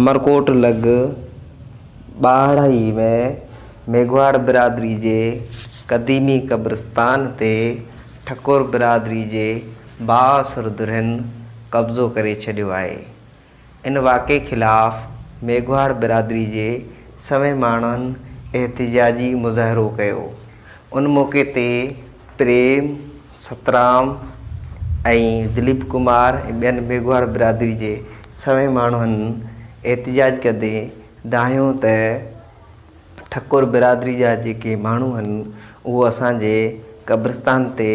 عمرڪوٽ لڳ ٻاهڙائي ۾ ميگهواڙ برادري جي قديمي قبرستان تي ٺڪر برادري جي بااثر ڌرين قبضو ڪري ڇڏيو آهي. ان واقعي خلاف ميگهواڙ برادري جي سوين ماڻهن احتجاجي مظاهرو ڪيو. ان موقعي تي پريم سترام ۽ دليپ ڪمار ۽ ٻين ميگهواڙ برادري جي سوين ماڻهن احتجاج ڪندي دانهيو ته ٺڪر برادري جا جيڪي ماڻهو آهن اهو اسان جي قبرستان تي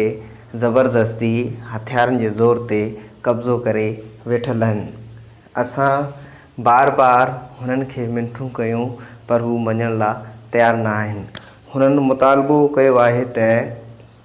زبردستي هٿيارن جي زور تي قبضو ڪري ويٺل آهن اسان بار بار هنن کي منٿون ڪيون پر هو مڃڻ لا تيار نه آهن هنن مطالبو ڪيو آهي ته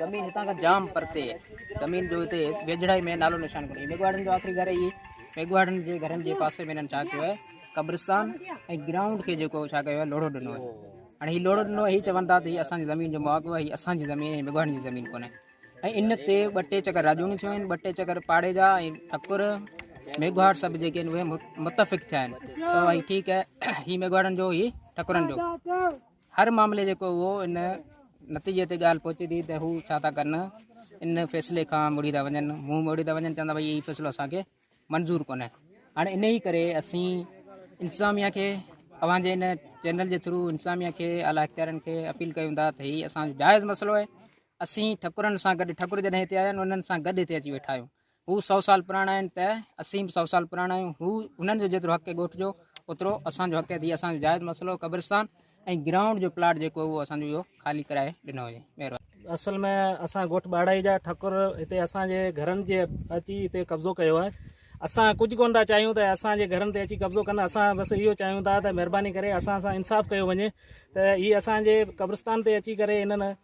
زمين هتان کان جام پرتي آهي. زمين جو هتي ويجهڙائي ۾ نالو نشان ڪونهي. ميگهواڙن جو آخري گهر اهي. ميگهواڙن جي گهرن جي پاسي ۾ هنن ڇا ڪيو آهي قبرستان ۽ گرائونڊ کي جيڪو ڇا ڪيو آهي لوڙهو ڏنو آهي. هاڻي هي لوڙهو ڏنو آهي هي چون ٿا ته هي اسان جي زمين جو محاڪو آهي هي اسان جي زمين آهي هي ميگهواڙن جي زمين ڪونهي ۽ ان تي ٻه ٽي چڪر راڄوڻيون ٿيون آهن ٻه ٽي چڪر پاڙي جا ۽ ٺڪر ميگهواڙ سڀ جيڪي آهن اهي متفق ٿيا آهن ته ٺيڪ آهي هي ميگهواڙن جو هي ٺڪرن جو هر معاملي جيڪو اهو ان نتيجي تي ڳالهه پهچي ٿي ته هو ڇا ٿا ڪن ان فيصلي کان مڙي ٿا وڃن منهن موڙي ٿا وڃن چوندا ڀائی هي فيصلو اسان کي منظور ڪونهي هاڻي ان ئي ڪري اسين انتظاميا کي اوهان جي ان چينل جي ٿرو انتظاميا کي اعليٰ اختيارن کي اپيل ڪيون ٿا ته هي اسان جو جائز مسئلو آهي اسين ٺڪرن سان گڏ ٺڪر جڏهن هتي آيا آهن انهن سان گڏ هتي اچي ويٺا آهيون هو سؤ سال پراڻا آهن ته اسين به سؤ سال پراڻا آهيون هو انهن جو جيترو حق ڳوٺ جو اوترو اسان جو حق ٿي اسان جو جائز مسئلو قبرستان ۽ گرائونڊ جو پلاٽ جيڪو اهو اسان جو خالي ڪرائي ڏنو وڃي مهرباني اصل ۾ اسان ڳوٺ ٻاڙائي جا ٺڪر هتي اسان جي گهرن جي اچي هتي قبضو ڪيو آهي اسان ڪجهه ڪون ٿا چاهيون ته اسان جي گهرن تي اچي قبضو ڪن اسان بس اهو چاهيون ٿا ته مهرباني ڪري اسان سان انصاف ڪيو وڃي ته هي اسان جي قبرستان تي اچي ڪري انهن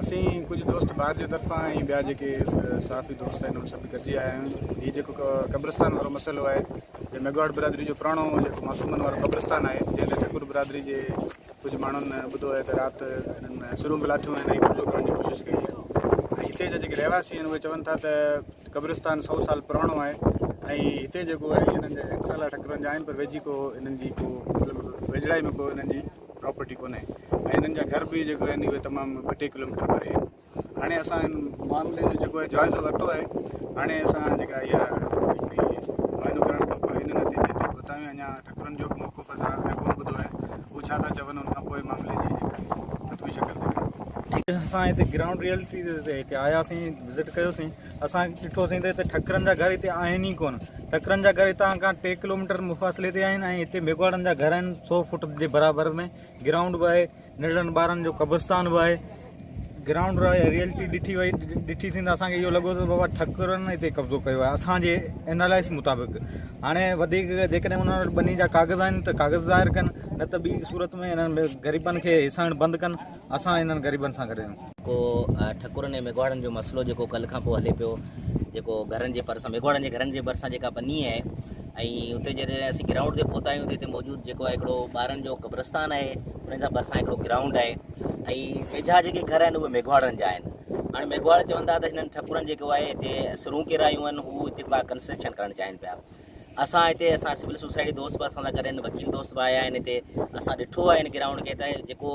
اسين ڪجهه دوست ڀار جي طرفان ۽ ٻيا جيڪي صحافي دوست آهن ان سڀ گڏجي آيا آهيون هي جيڪو قبرستان وارو مسئلو آهي جو ميگواڙ برادري جو پراڻو جيڪو معصومن وارو قبرستان آهي جنهن لاء ٺڪر برادري جي ڪجهه ماڻهن ٻڌو آهي ته رات انهن ۾ سرون به لاٿيون آهن ۽ قبضو ڪرڻ جي ڪوشش ڪئي آهي ۽ هتي جا جيڪي رهواسي آهن اهي چون ٿا ته قبرستان سؤ سال پراڻو آهي ۽ هتي جيڪو آهي انهن جا اڪثر ٺڪرن جا آهن پر ويجهي ڪو انهن جي ڪو مطلب ويجهڙائي ۾ ڪو انهن جي پراپرٽي ڪونهي ۽ هنن جا گهر به جيڪو آهن اهي تمام ٻه ٽي ڪلوميٽر پري آهن هاڻي اسان هن معاملي جو جيڪو آهي جائزو ورتو آهي هاڻي اسان جيڪا اها معائنو ڪرڻ کان پوء هن نتيجي تي پهتا آهيون اڃا ٽڪرن جو به موقف اسان اڃا ڪونه ٻڌو آهي هو ڇا ٿا چون ان کان پوء معاملي جي جيڪا آهي ختمي شڪل ڏيکاريندو اسان هتي گرائونڊ ريئلٽي تي هتي آياسين وزٽ ڪيوسين اسان ڏٺوسين ته هتي ٺڪرن جا گهر هتي آهن ئي ڪونه. ٺڪرن جا گهر هتان کان ٽي ڪلوميٽر مفاصلي تي آهن ۽ هتي ميگهواڙن جا گهر آهن. سؤ فوٽ جي برابر ۾ گرائونڊ به آهي. ننڍڙن ٻارن جو قبرستان به آهي. گرائونڊ جي ريئلٽي ڏٺي وئي. ڏٺيسين ته اسان کي اهو لڳو ته بابا ٺڪرن هتي قبضو ڪيو آهي. اسان جي اينالائس مطابق هاڻي وڌيڪ جيڪڏهن انهن وٽ ٻني جا ڪاغذ آهن ته ڪاغذ ظاهر ڪن نه ته ٻي صورت ۾ انهن غريبن کي هيسائڻ بند ڪن. اسان انهن غريبن سان گڏ آهيون. جيڪو ٺڪرن ۽ ميگهواڙن جو مسئلو جيڪو ڪلهه کان پوء هلي پيو جيڪو گهرن جي ڀرسان ميگهواڙن جي گهرن جي ڀرسان جيڪا ٻني آهي ۽ اتي جڏهن اسين گرائونڊ تي پهتا آهيون ته هتي موجود جيڪو آهي هڪڙو ٻارن جو قبرستان آهي انهن جا ڀرسان هڪڙو گرائونڊ آهي ۽ ويجها جيڪي گهر آهن اهي ميگهواڙن جا آهن هاڻي ميگهواڙ چون ٿا ته هنن ٺڪرن جيڪو آهي هتي سرون ڪيرايون آهن هو هتي ڪا ڪنسٽرڪشن ڪرڻ چاهين پيا اسان هتي اسان سول سوسائٽي دوست به اسان سان گڏ آهن وڪيل دوست به آيا آهن هتي اسان ڏٺو آهي ان گرائونڊ کي ته جيڪو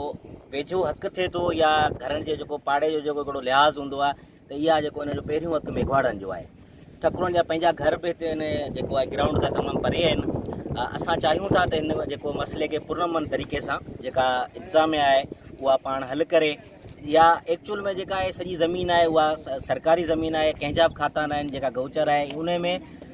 ويجهو حق ٿئي ٿو يا گهرن جو جيڪو پاڙي جو جيڪو هڪڙو لحاظ هوندو آهي ته اها جيڪو ان جو پهريون حق ميگهواڙن جو آهي ٺڪرن جا پنهنجا گهر به هتي ان جيڪو آهي گرائونڊ کان تمام پري آهن اسان چاهيون ٿا ته ان جيڪو مسئلي کي پرامن طريقي سان جيڪا انتظاميا آهي اها پاڻ حل ڪري يا ايڪچوئل ۾ جيڪا آهي سڄي زمين آهي اها سرڪاري زمين آهي ڪنهنجا به کاتا ناهن جيڪا گوچر آهي ان ۾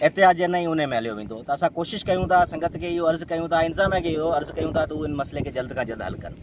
احتياط جي نه ئي انهي ۾ هليو ويندو ته اسان ڪوشش ڪيون ٿا سنگت کي اهو عرض ڪيون ٿا انتظاميا کي اهو عرض ڪيون ٿا ته هو ان مسئلي کي جلد کان جلد حل ڪن.